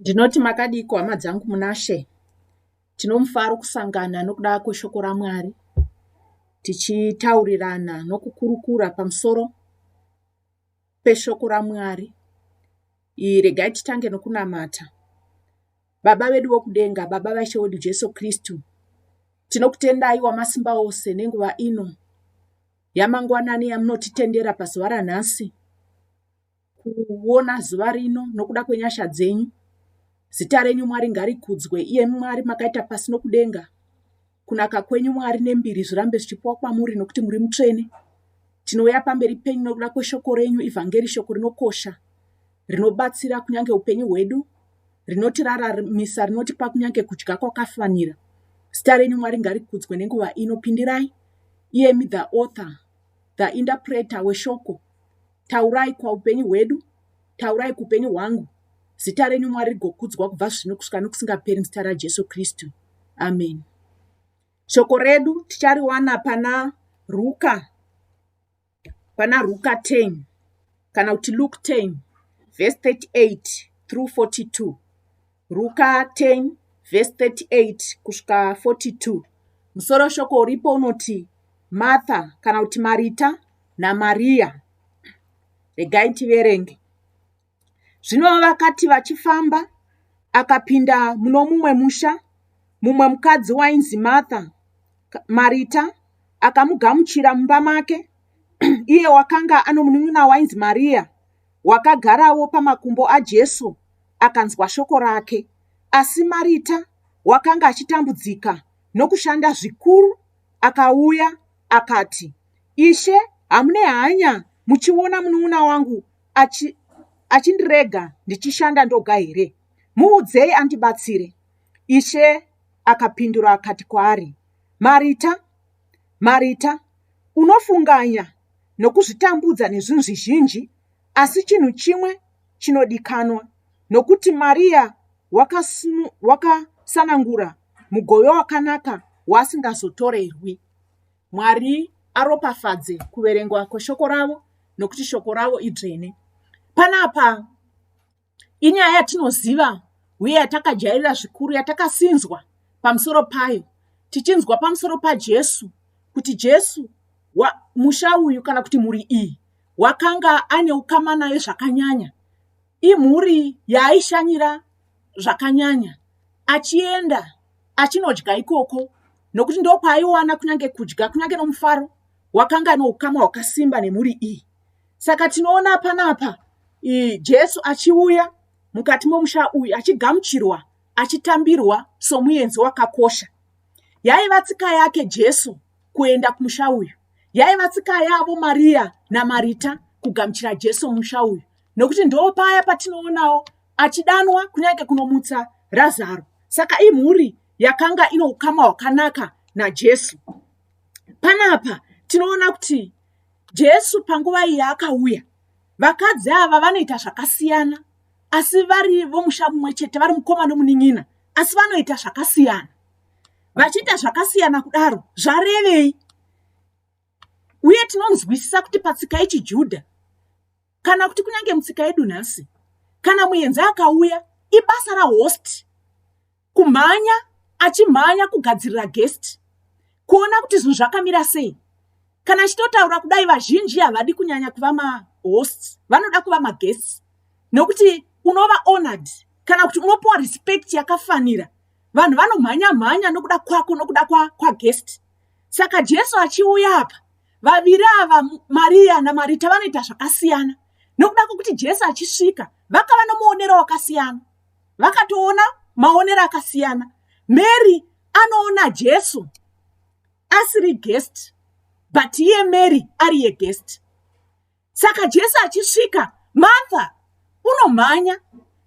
ndinoti makadiko hama dzangu munashe tinomufaro kusangana nokuda kweshoko ramwari tichitaurirana nokukurukura pamusoro peshoko ramwari ii regai titange nokunamata Baba vedu vokudenga, Baba vaIshe wedu Jesu Kristu, tinokutendai wamasimba ose nenguva ino yamangwanani yamunotitendera pazuva ranhasi kuona zuva rino nokuda kwenyasha dzenyu. Zita renyu Mwari ngarikudzwe, iye Mwari makaita pasi nokudenga. Kunaka kwenyu Mwari nembiri zvirambe zvichipiwa kwamuri nokuti muri mutsvene. Tinouya pamberi penyu nokuda kweshoko renyu, ivhangeri, shoko rinokosha, rinobatsira kunyange upenyu hwedu, rinotiraramisa, rinotipa kunyange kudya kwakafanira. Zita renyu Mwari ngarikudzwe nenguva ino. Pindirai, iyemi the author, the interpreter weshoko, taurai kwaupenyu hwedu, Taurai kuupenyu hwangu. Zita renyu Mwari rigokudzwa kubva zvino kusvika nokusingaperi muzita raJesu Kristu. Amen. Shoko redu tichariwana pana Ruka pana Ruka 10 kana kuti Luke 10 verse 38 through 42. Ruka 10 vhesi 38 kusvika 42 musoro shoko uripo unoti Martha kana kuti Marita naMariya. Regai tiverenge. Zvino vakati vachifamba, akapinda muno mumwe musha, mumwe mukadzi wainzi Martha, Marita, akamugamuchira mumba make, iye wakanga ano munin'ina wainzi Mariya, wakagarawo pamakumbo aJesu akanzwa shoko rake. Asi Marita wakanga achitambudzika nokushanda zvikuru, akauya akati, Ishe, hamune hanya muchiona munun'una wangu achi, achindirega ndichishanda ndoga here? Muudzei andibatsire. Ishe akapindura akati kwaari, Marita, Marita, unofunganya nokuzvitambudza nezvinhu zvizhinji, asi chinhu chimwe chinodikanwa, nokuti Maria wakasanangura mugove wakanaka waasingazotorerwi. Mwari aropafadze kuverengwa kweshoko ravo, nokuti shoko ravo idzvene. Panapa. Inyaya yatinoziva uye yatakajairira zvikuru yatakasinzwa pamusoro payo tichinzwa pamusoro paJesu kuti Jesu wa, musha uyu kana kuti mhuri iyi wakanga ane ukama nayo zvakanyanya. Imhuri yaaishanyira zvakanyanya achienda achinodya ikoko nokuti ndokwaiwana kunyange kudya kunyange nomufaro wakanga noukama hwakasimba nemhuri iyi. saka tinoona panapa jesu achiuya mukati momusha uyu achigamuchirwa achitambirwa somuenzi wakakosha yaiva tsika yake jesu kuenda kumusha uyu yaiva tsika yavo mariya namarita kugamuchira jesu mumusha uyu nokuti ndo paya patinoonawo achidanwa kunyange kunomutsa razaro saka imhuri yakanga ino ukama hwakanaka najesu panapa tinoona kuti Jesu panguva iyi yaakauya, vakadzi ava vanoita zvakasiyana, asi vari vomusha mumwe chete, vari mukoma nomunin'ina, asi vanoita zvakasiyana. Vachiita zvakasiyana kudaro, zvarevei? Uye tinonzwisisa kuti patsika yechiJudha, kana kuti kunyange mutsika yedu nhasi kana muenzi akauya ibasa rahost kumhanya achimhanya kugadzirira guest kuona kuti zvinhu zvakamira sei kana chitotaura kudai vazhinji havadi kunyanya kuva mahost vanoda kuva maguest nokuti unova honored kana kuti unopiwa respect yakafanira vanhu vanomhanya mhanya nokuda kwako nokuda kwaguest kwa saka jesu achiuya apa Vaviri ava Mariya naMarita vanoita zvakasiyana nokuda kwekuti Jesu achisvika vakava nomuonero wakasiyana. Vakatoona maonero akasiyana. Mary anoona Jesu asiri guest but iye Mary ari yeguest. Saka Jesu achisvika, Martha unomhanya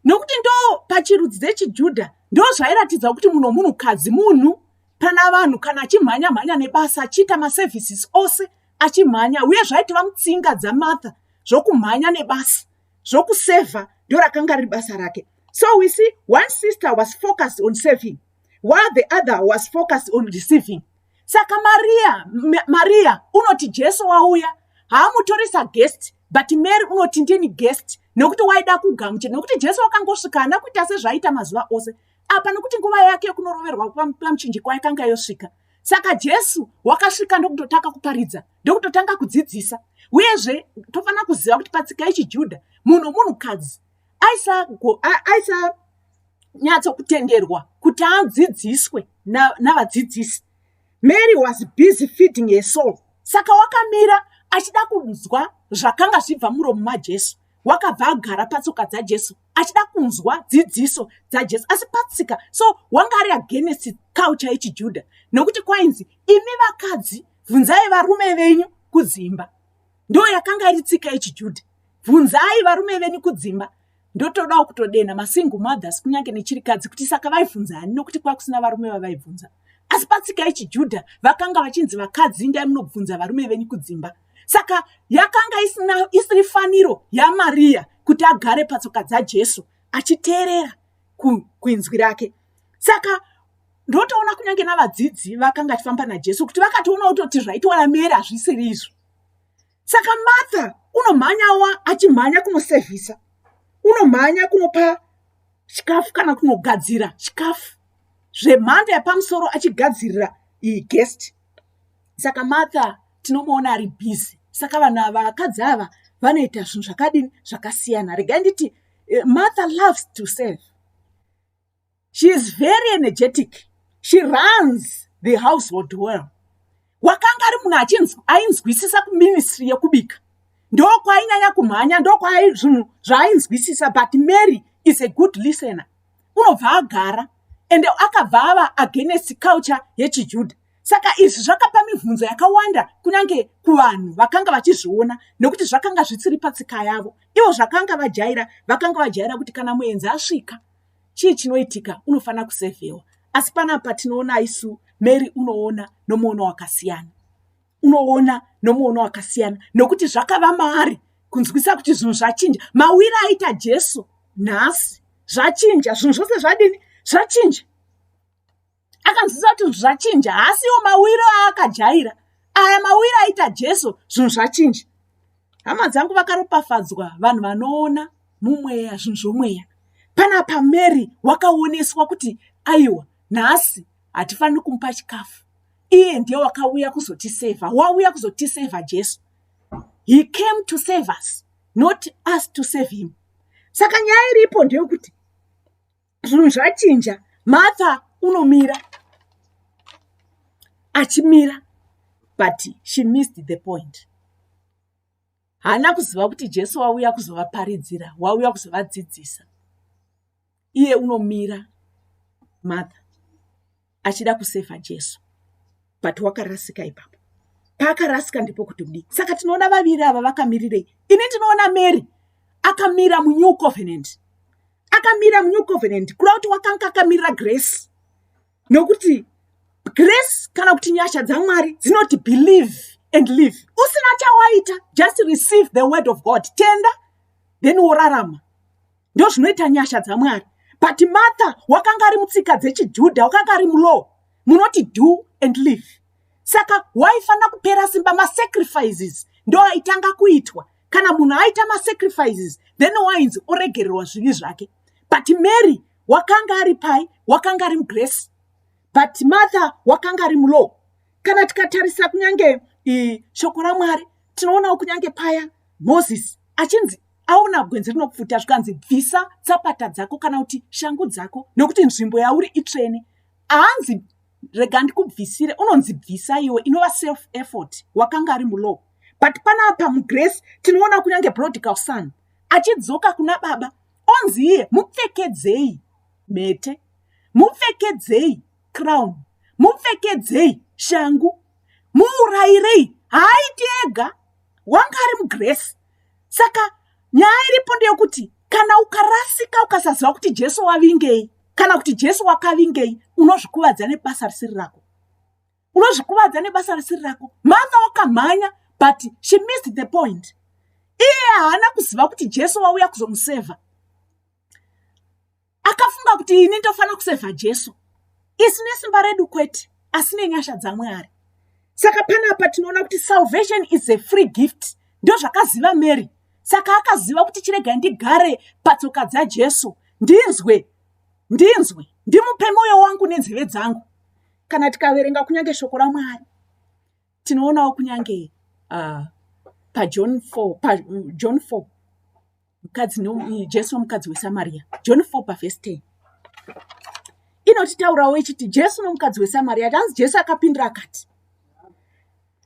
nokuti ndo pachirudzi dzechiJudha ndo zvairatidza kuti muno munhukadzi munhu pana vanhu kana achimhanya mhanya nebasa achiita maservices ose achimhanya uye zvaitova mutsinga dzamartha zvokumhanya nebasa zvokusevha ndorakanga riri basa rake so we see one sister was focused on serving while the other was focused on receiving saka maria maria unoti jesu wauya haamutoresa guest but mary unoti ndini guest nokuti waida kugamuchira nokuti jesu wakangosvika hana kuita sezvaiita mazuva ose apa nokuti nguva yake yekunoroverwa pamuchinjikwa yakanga yosvika saka jesu wakasvika ndokutotanga kuparidza ndokutotanga kudzidzisa uyezve tofanira kuziva kuti patsika yechijudha munhu munhukadzi aisagona aisa, aisa nyatso kutenderwa kuti adzidziswe navadzidzisi na Mary was busy feeding her soul. Saka wakamira achida kunzwa zvakanga zvibva muromo maJesu. Wakabva agara patsoka dzaJesu achida kunzwa dzidziso dzaJesu. Asi patsika so wanga ari against culture yechiJuda nokuti kwainzi imi vakadzi bvunzai varume venyu kudzimba. Ndo yakanga iri tsika yechiJuda. Bvunzai varume venyu kudzimba. ndotodawo kutodenha masingle mothers kunyange nechirikadzi kuti saka vaibvunza ani nokuti kwakusina varume vavaibvunza asi patsika yechijudha vakanga vachinzi vakadzi indai munobvunza varume venyu kudzimba saka yakanga isina isiri faniro yamariya kuti agare patsoka dzajesu achiteerera kuinzwi rake saka ndotoona kunyange navadzidzi vakanga achifamba najesu kuti vakatoona kutoti zvaitoona mere hazvisiri izvo saka martha unomhanyawa achimhanya kunosevhisa unomhanya kunopa chikafu kana kunogadzira chikafu zvemhando yapamusoro achigadzirira iyi guest saka martha tinomuona ari busy saka vanhu ava vakadzi ava vanoita zvinhu zvakadini zvakasiyana regai nditi eh, martha loves to serve she is very energetic she runs the household well wakanga ari munhu achinzwa ainzwisisa kuministry yekubika ndokwainyanya kumhanya ndokwai zvinhu zvaainzwisisa but mary is a good listener unobva agara ende akabva ava against culture yechijudha saka izvi zvakapa mibvunzo yakawanda kunyange kuvanhu vakanga vachizviona nekuti zvakanga zvisiri patsika yavo ivo zvakanga vajaira vakanga vajaira kuti kana muenzi asvika chii chinoitika unofanira kusevhewa asi panapa tinoona isu mary unoona nomuono wakasiyana unoona nomuono wakasiyana nokuti zvakava maari kunzwisa kuti zvinhu zvachinja mawira aita jesu nhasi zvachinja zvinhu zvose zvadini zvachinja akanzwisa kuti zvinhu zvachinja haasiwo mawiro aakajaira aya mawiro aita jesu zvinhu zvachinja hama dzangu vakaropafadzwa vanhu vanoona mumweya zvinhu zvomweya panapa mary wakaoneswa kuti aiwa nhasi hatifaniri kumupa chikafu iye ndiye wakauya kuzotisevha wauya kuzotisevha jesu he came to save us not us to save him saka nyaya iripo ndeyokuti zvinhu zvachinja martha unomira achimira but she missed the point haana kuziva kuti jesu wauya kuzovaparidzira wauya kuzovadzidzisa iye unomira martha achida kusefa jesu but wakarasika ipapo paakarasika ndipo kuti kudii saka tinoona vaviri ava vakamirirei ini ndinoona mary akamira munew covenant akamira munew covenant kuda kuti wakanga akamirira grace nokuti grace kana kuti nyasha dzamwari dzinoti believe and live usina chawaita just receive the word of god tenda then worarama ndozvinoita nyasha dzamwari but martha wakanga ari mutsika dzechijudha wakanga ari mulow munoti do and live saka waifanira kupera simba masacrifices ndo aitanga kuitwa kana munhu aita masacrifices then wainzi oregererwa zvivi zvake but mary wakanga ari pai wakanga ari mugrace but martha wakanga ari mulow kana tikatarisa kunyange shoko ramwari tinoonawo kunyange paya moses achinzi aona gwenzi rinopfuta zvikanzi bvisa tsapata dzako kana kuti shangu dzako nokuti nzvimbo yauri itsvene haanzi rega ndikubvisire unonzi bvisa iwe inova self effort wakanga ari mulow but panapa mugrace tinoona kunyange brodical son achidzoka kuna baba onzi iye mupfekedzei mhete mupfekedzei crown mupfekedzei shangu muurayirei haaiti ega wanga ari mugrace saka nyaya iripo ndeyekuti kana ukarasika ukasaziva kuti jesu wavingei kana kuti jesu wakavingei unozvikuvadza nebasa risiri rako unozvikuvadza nebasa risiri rako mother wakamhanya but she missed the point iye haana kuziva kuti jesu wauya kuzomusevha akafunga kuti ini ndofanira kusevha jesu isi nesimba redu kwete asi nenyasha dzamwari saka panapa tinoona kuti salvation is a free gift ndozvakaziva mary saka akaziva kuti chirega ndigare patsoka dzajesu ndinzwe ndinzwe ndimupe mwoyo wangu nenzeve dzangu kana tikaverenga kunyange shoko ramwari tinoonawo kunyange uh, pajohn 4 pa, mm, john 4 mukadzi no, jesu nomukadzi wesamaria john 4 pavhesi 10 inotitaurawo ichiti jesu nomukadzi wesamaria tanzi jesu akapindira akati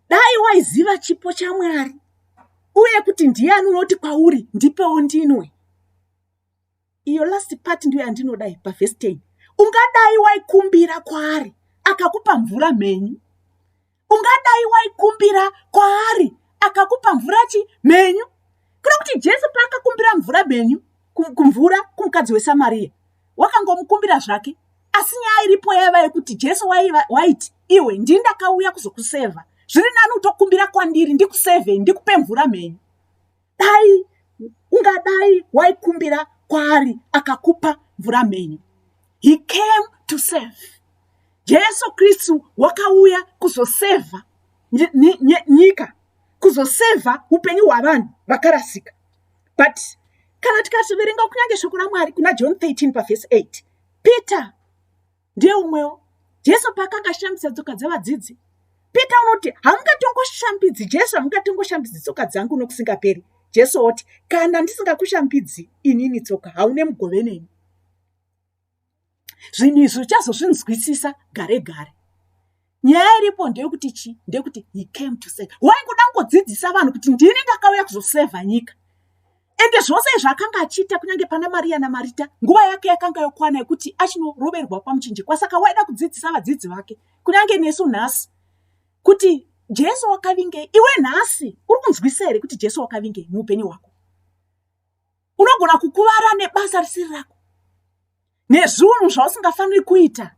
dai waiziva chipo chamwari uye kuti ndiyani unoti kwauri ndipewo ndinwe iyo last part ndiyo yandinodai pavhesi 10 ungadai waikumbira kwaari akakupa mvura mhenyu ungadai waikumbira kwaari akakupa mvura chi mhenyu kuda kuti jesu paakakumbira mvura mhenyu kumvura kumukadzi wesamariya wakangomukumbira zvake asi nyaya iripo yaiva yekuti jesu waiti iwe ndii ndakauya kuzokusevha zviri nani utokumbira kwandiri ndikusevhei ndikupe mvura mhenyu dai ungadai waikumbira kwaari akakupa mvura mhenyu he came to serve jesu kristu wakauya kuzosevha nyika kuzosevha upenyu hwavanhu vakarasika but kana tikativerenga kunyange shoko ramwari kuna john 13 pavhesi 8 peter ndiye umwewo jesu paakanga ashambisa tsoka dzevadzidzi peter unoti hamungatongoshambidzi jesu hamungatongoshambidzi tsoka dzangu nokusingaperi jesu oti kana ndisingakushambidzi inini tsoka haune mugove neni zvinhu izvi uchazozvinzwisisa gare gare nyaya iripo ndeyekuti chii ndeyekuti he came to save waingoda kungodzidzisa vanhu kuti ndini ndakauya kuzosevha nyika ende zvose izvi akanga achiita kunyange pana mariya namarita nguva yake yakanga yokwana yekuti achinoroverwa pamuchinjikwa saka waida kudzidzisa vadzidzi vake kunyange nesu nhasi kuti jesu wakavingei iwe nhasi uri kunzwisa here kuti jesu wakavingei muupenyu hwako unogona kukuvara nebasa risiri rako nezvunhu zvausingafaniri kuita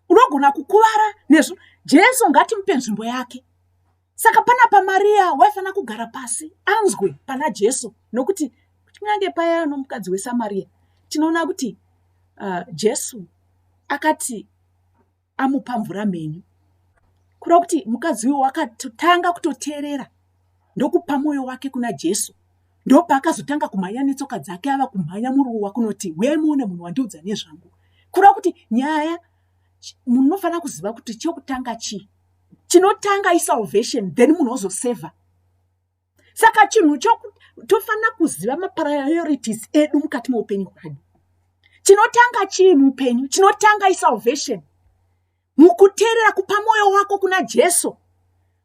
unogona kukuvara nezvu jesu ngatimupe nzvimbo yake saka pana pamariya waifanira kugara pasi anzwe pana jesu nokuti kunyange paya nomukadzi wesamariya tinoona kuti uh, jesu akati amupa mvura mhenyu kureva kuti mukadzi uyo wakatanga kutoteerera ndokupa mwoyo wake kuna jesu ndopaakazotanga kumhanya netsoka dzake ava kumhanya muruo wakunoti huye muone munhu wandiudza nezvangu kureva kuti nyaya munhu unofanira kuziva kuti chekutanga chii chinotanga isalvation then munhu ozosevha saka chinhu chokuti tofanira kuziva mapriorities edu mukati meupenyu hwedu chinotanga chii muupenyu chinotanga isalvation mukuteerera kupa mwoyo wako kuna jesu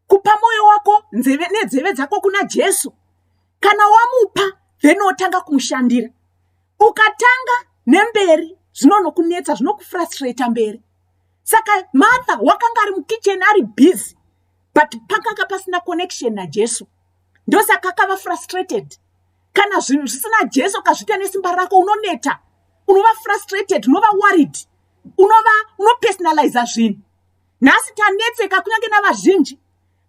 kupa mwoyo wako nzeve nedzeve dzako kuna jesu kana wamupa then otanga kumushandira ukatanga nemberi zvinonokunetsa zvinokufrustrata mberi saka martha wakanga ari mukicheni ari busy but pakanga pasina connection najesu ndosaka akava frustrated kana zvinhu zvisina jesu ukazviita nesimba rako unoneta unova frustrated unova worried unova unopersonaliza zvinhu nhasi tanetseka kunyange navazhinji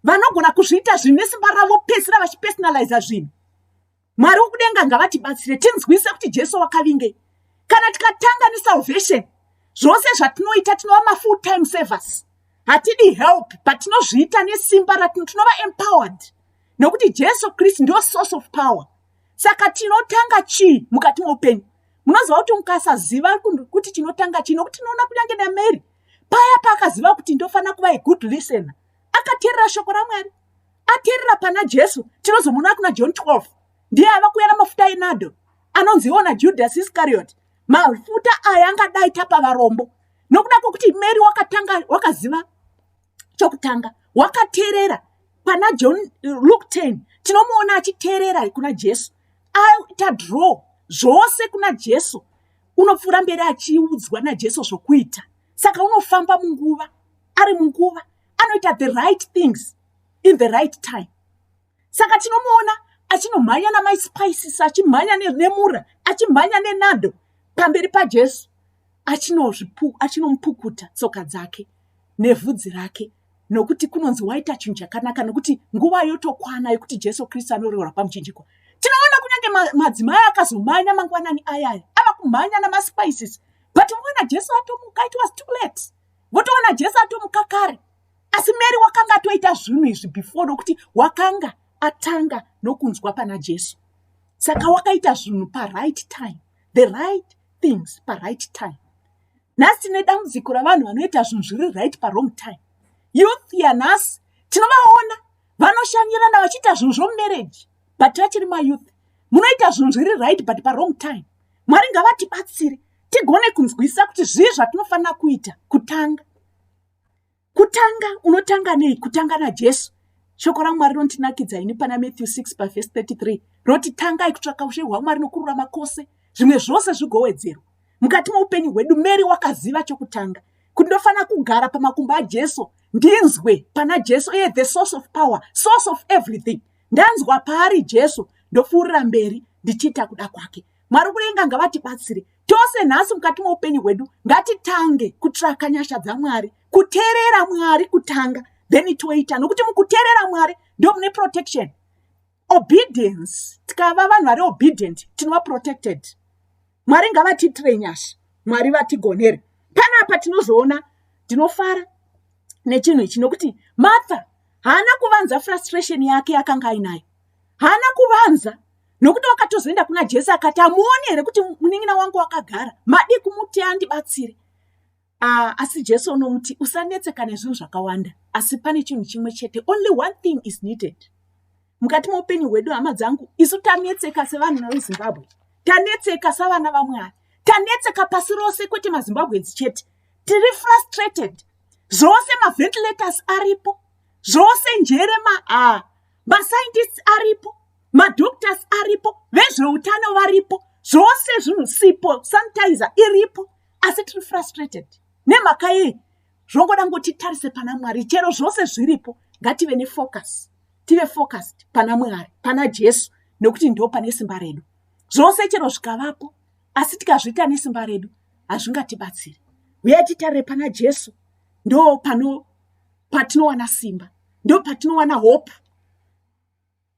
vanogona kuzviita zvinhu nesimba ravo pesira vachipersonaliza zvinhu mwari wokudenga ngavatibatsire tinzwise kuti jesu wakavingei kana tikatanga nesalvation zvose zvatinoita tinova mafull time servers hatidi help but tinozviita nesimba ratino tinova empowered nokuti jesu kristu ndio source of power saka tinotanga chii mukati moupenyu munoziva kuti mukasaziva kuti tinotanga chii nokuti tinoona kunyange namary paya paakaziva kuti ndofanira kuva agood listener akateerera shoko ramwari ateerera pana jesu tinozomuona kuna john 12 ndiye ava kuuya namafuta enado anonziwo najudas iscariot mafuta aya angadai tapa varombo nokuda kwokuti mary wakatanga wakaziva chokutanga wakateerera pana john luke 10 tinomuona achiteerera kuna jesu aita draw zvose kuna jesu unopfuura mberi achiudzwa najesu zvokuita saka unofamba munguva ari munguva anoita the right things in the right time saka tinomuona achinomhanya namai spices achimhanya nemura achimhanya nenando pamberi pajesu achinomupukuta tsoka dzake nevhudzi rake nokuti kunonzi waita chinhu chakanaka nokuti nguva yotokwana yokuti jesu kristu anoreurwa pamuchinjiko tinoona kunyange madzimai akazomhanya mangwanani ayaya ava kumhanya namaspices but voona jesu atomuka it was too late votoona jesu atomuka kare asi mary wakanga atoita zvinhu izvi before nokuti wakanga atanga nokunzwa pana jesu saka wakaita zvinhu paright time the right things paright time nhasi tine dambudziko ravanhu vanoita zvinhu zviri right parong time youth yanhasi tinovaona vanoshanyirana vachiita zvinhu zvomumereji but vachiri mayouth munoita zvinhu zviri right but parong time mwari ngavatibatsire tigone kunzwisisa kuti zvii zvatinofanira kuita kutanga kutanga unotanga nei kutanga najesu shoko ramwari rinotinakidza ini pana matthew 6 pavhesi 33 roti tangai kutsvaka ushe hwamwari nokururama kwose zvimwe zvose zvigowedzerwa mukati moupenyu hwedu mary wakaziva chokutanga kuti ndofanira kugara pamakumbo ajesu ndinzwe pana jesu iye the source of power source of everything ndanzwa paari jesu ndopfuurira mberi ndichiita kuda kwake mwari kurenga ngavatibatsire tose nhasi mukati moupenyu hwedu ngatitange kutsvaka nyasha dzamwari kuteerera mwari kutanga then toita nokuti mukuteerera mwari ndo mune protection obedience tikava vanhu vari obedient tinova protected mwari ngavatiitire nyasha mwari vatigonere panapa tinozoona ndinofara nechinhu ichi nokuti martha haana kuvanza frustration yake yakanga ainayo haana kuvanza nokuti wakatozoenda kuna jesu akati amuoni here kuti munin'ina wangu wakagara madii kumuti andibatsire uh, asi jesu unomuti usanetseka nezvinhu zvakawanda asi pane chinhu chimwe chete only one thing is needed mukati moupenyu hwedu hama dzangu isu tanetseka sevanhu vezimbabwe tanetseka savana vamwari tanetseka pasi rose kwete mazimbabwedzi chete tiri frustrated zvose maventilators aripo zvose njere maa ah, mascientists aripo madoctors aripo vezveutano varipo zvose zvinhu sipo sanitizer iripo asi tiri frustrated nemhaka yei zvongoda ngoti tarise pana mwari chero zvose zviripo ngative nefocus tive focused pana mwari pana jesu nekuti ndo pane simba redu zvose chero zvikavapo asi tikazviita nesimba redu hazvingatibatsiri huyai titarire pana jesu ndo pano patinowana simba ndo patinowana hope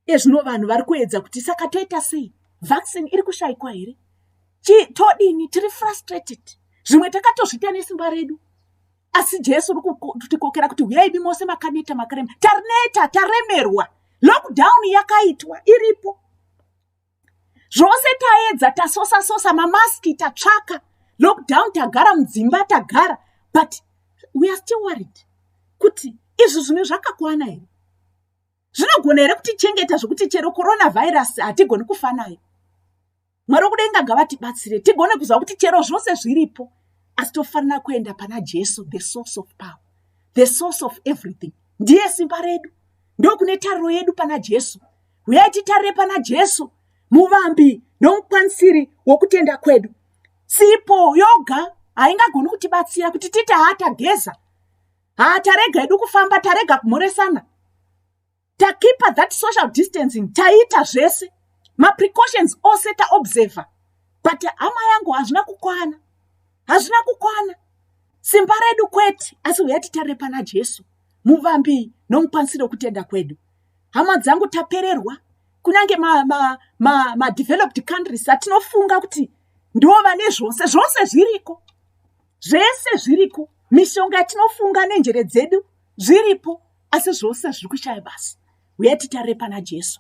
iye zvino vanhu vari kuedza kuti saka toita sei vaccine iri kushaikwa here chii todini tiri frustrated zvimwe takatozviita nesimba redu asi jesu uri kutikokera kuti huyaibi mose makaneta makarema tarineta taremerwa lockdown yakaitwa iripo zvose taedza tasosa sosa mamaski tatsvaka lockdown tagara mudzimba tagara but we are still worried kuti izvi zvimwe zvakakwana here zvinogona here kutichengeta zvekuti chero coronavirus hatigoni kufa nayo mwari wokudenga ngavatibatsire tigone kuziva kuti chero zvose zviripo asi tofanira kuenda pana jesu the source of power the source of everything ndiye simba redu ndokune tariro yedu pana jesu huyai titarire pana jesu muvambi nomukwanisiri wokutenda kwedu sipo yoga haingagoni kutibatsira kuti titi haatageza haa tarega hedu kufamba tarega kumhoresana takipa that social distancing taita zvese maprecautions ose taobserver but hama yangu hazvina kukwana hazvina kukwana simba redu kwete asi huya titare pana jesu muvambi nomukwanisiro wekutenda kwedu hama dzangu tapererwa kunyange madeveloped ma, ma, ma countries atinofunga kuti ndiwo vane zvose zvose zviriko zvese zviriko mishonga yatinofunga nenjere dzedu zviripo asi zvose zviri kushaya basa uya titarire pana jesu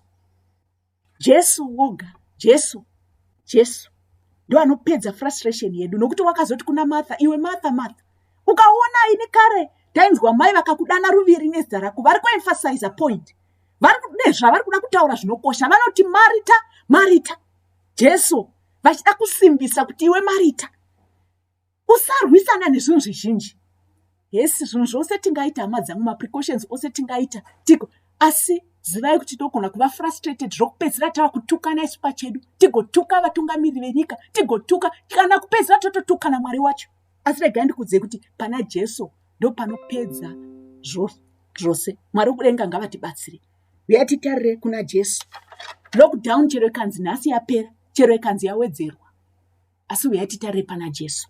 jesu woga jesu jesu ndo anopedza frustration yedu nokuti wakazoti kuna martha iwe martha martha ukaona ini kare tainzwa mai vakakudana ruviri nezita rako vari kuemphasiza point vari nezvavari kuda kutaura zvinokosha vanoti marita marita jesu vachida kusimbisa kuti iwe marita usarwisana nezvinhu zvizhinji hesi zvinhu zvose tingaita hama dzangu maprecautions ose tingaita tiko asi zivai kuti togona kuva frustrated zvokupedzisira tava kutukana isu pachedu tigotuka vatungamiri venyika tigotuka kana kupedzisira tototukana mwari wacho asi regai ndikudzei kuti pana jesu ndopanopedza zvose mwari wekudenga ngavatibatsire uya titarire kuna jesu lockdown chero ikanzi nhasi yapera chero ikanzi yawedzerwa Asi huyai titarire pana Jesu.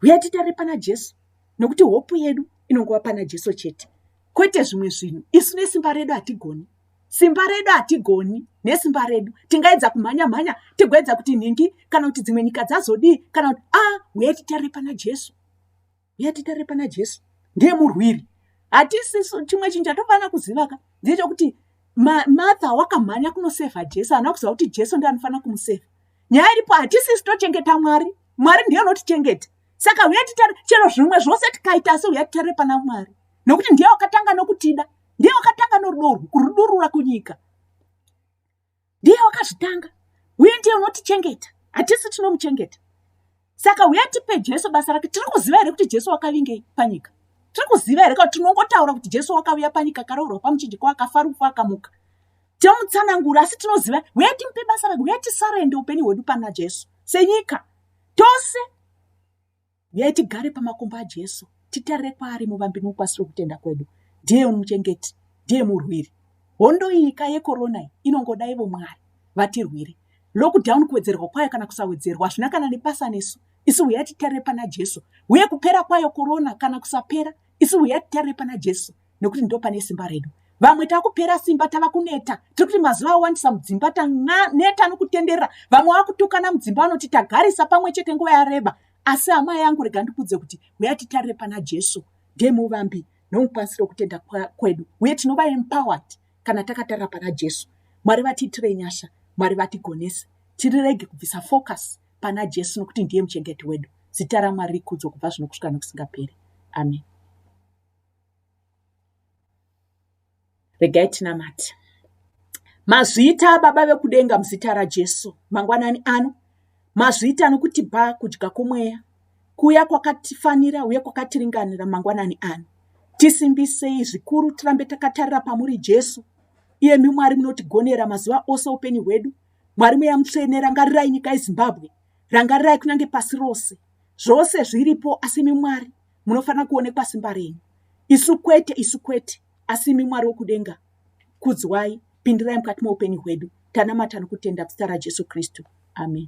Huyai titarire pana Jesu nokuti hopu yedu inongova pana Jesu chete. Kwete zvimwe zvinhu. Isu nesimba redu hatigoni. Simba redu hatigoni nesimba redu. Tingaedza kumhanya mhanya tigoedza kuti nhingi kana kuti dzimwe nyika dzazodii kana kuti ah huyai titarire pana Jesu. huya titare pana jesu ndiye murwiri hatisisu chimwe chinhu chatofanira kuzivaka ndechokuti martha wakamhanya kunosevha jesu haana kuziva kuti jesu ndi anofanira kumusevha nyaya iripo hatisisu tochengeta mwari mwari ndiye anotichengeta saka huya titare chero zvimwe zvose tikaita asi huya titare pana mwari nokuti ndiye wakatanga nokutida ndiye wakatanga norudo urwu kurudurura kunyika ndiye wakazvitanga uye ndiye unotichengeta hatisi tinomuchengeta saka uye tipe jesu basa rake tiri kuziva here kuti jesu wakavingei panyika tiri kuziva here kuti tinongotaura kuti jesu wakavuya panyika akaroorwa pamuchinjiko akafa rufu akamuka tinomutsanangura asi tinoziva uye timupe basa rake uye tisarende upenyu hwedu pana jesu senyika tose Huyai tigare pamakumbo aJesu, titarire kwaari muvambi nomupasi wokutenda kwedu. Ndiye muchengeti, ndiye murwiri. Hondo iyi ka yekorona iyi inongoda ivo Mwari vatirwire. Lockdown kuwedzerwa kwayo kana kusawedzerwa hazvina kana nebasa nesu. Isu huyai titarire pana Jesu. Huye kupera kwayo korona kana kusapera, isu huyai titarire pana Jesu nokuti ndo pane simba redu. Vamwe takupera simba tava kuneta. Tiri kuti mazuva awandisa mudzimba taneta nokutenderera. Vamwe vakutukana mudzimba vanoti tagarisa pamwe chete nguva yareba. asi hama yangu rega ndikudze kuti huya titarire pana jesu ndiye muvambi nomukwanisiro kutenda kwedu uye tinova empowered kana takatarira pana jesu mwari vatiitire nyasha mwari vatigonese tirirege kubvisa focus pana jesu nokuti ndiye muchengeti wedu zita ramwari rikudzo kubva zvino kusvika nokusingaperi amen Regai tinamate. Mazvita aBaba vekudenga muzita raJesu mangwanani ano. Mazvita anokutipa kudya kwomweya kuya kwakatifanira uye kwakatiringanira mangwanani ano. Tisimbisei zvikuru tirambe takatarira pamuri Jesu. Iyemi Mwari munotigonera mazuva ose upenyu hwedu. Mwari mweya mutsvene rangarirai nyika yeZimbabwe. Rangarirai kunyange pasi rose. Zvose zviripo asi imi Mwari munofanira kuonekwa simba renyu isu kwete isu kwete asi imi mwari wokudenga kudzwai pindirai mukati meupenyu hwedu tanamata nokutenda zita rajesu kristu amen